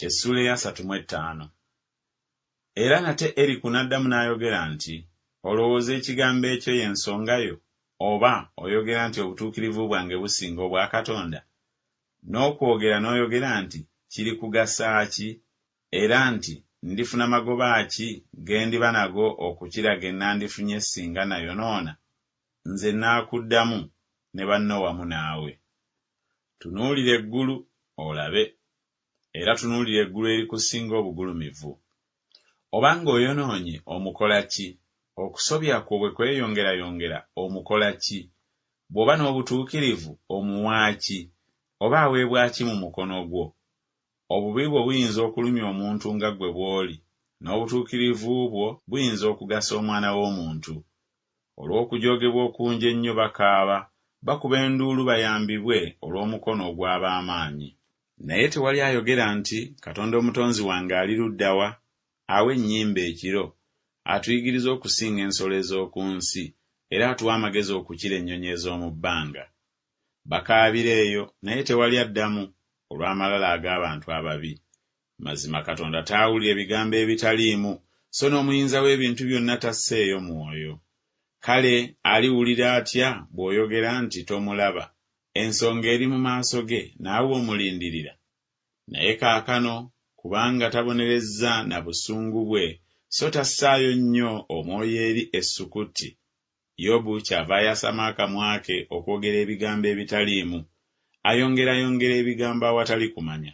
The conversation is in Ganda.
Essuula eyasatu mu ettaano. Era nate Eriku n'addamu n'ayogera nti, Olowooza ekigambo ekyo y'ensonga yo? Oba, oyogera nti obutuukirivu bwange businga obwa Katonda? N'okwogera n'oyogera nti, Kirikugasa ki? Era nti, Ndifuna magoba ki ge ndiba nago okukira ge nandifunye singa nayonoona? Nze nnaakuddamu ne banno wamu naawe. Tunuulira eggulu olabe, era tunuulira eggulu erikusinga obugulumivu. Oba nga oyonoonye omukola ki? Okusobya kwo bwe kweyongerayongera omukola ki? Bw'oba n'obutuukirivu omuwa ki? Oba aweebwa ki mu mukono gwo? Obubi bwo buyinza okulumya omuntu nga ggwe bw'oli, n'obutuukirivu bwo buyinza okugasa omwana w'omuntu. Olw'okujoogebwa okungi ennyo bakaaba, bakuba enduulu bayambibwe olw'omukono ogw'ab'amaanyi. Naye tewali ayogera nti, Katonda Omutonzi wange ali ludda wa, awa ennyimbe ekiro, atuyigiriza okusinga ensolo ez'oku nsi, era atuwa amagezi okukira ennyonyi ez'omu bbanga? Bakaabira eyo, naye tewali addamu, olw'amalala ag'abantu ababi. Mazima Katonda taawulira ebigambo ebitaliimu, so n'omuyinza w'ebintu byonna tasseeyo mwoyo. Kale aliwulira atya bw'oyogera nti tomulaba, ensonga eri mu maaso ge, naawe omulindirira? Naye kaakano, kubanga tabonerezza na busungu bwe, so tassaayo nnyo omwoyo eri essukutti, Yobu kyava ayasama akamwa ke okwogera ebigambo ebitaliimu, ayongerayongera ebigambo awatali kumanya.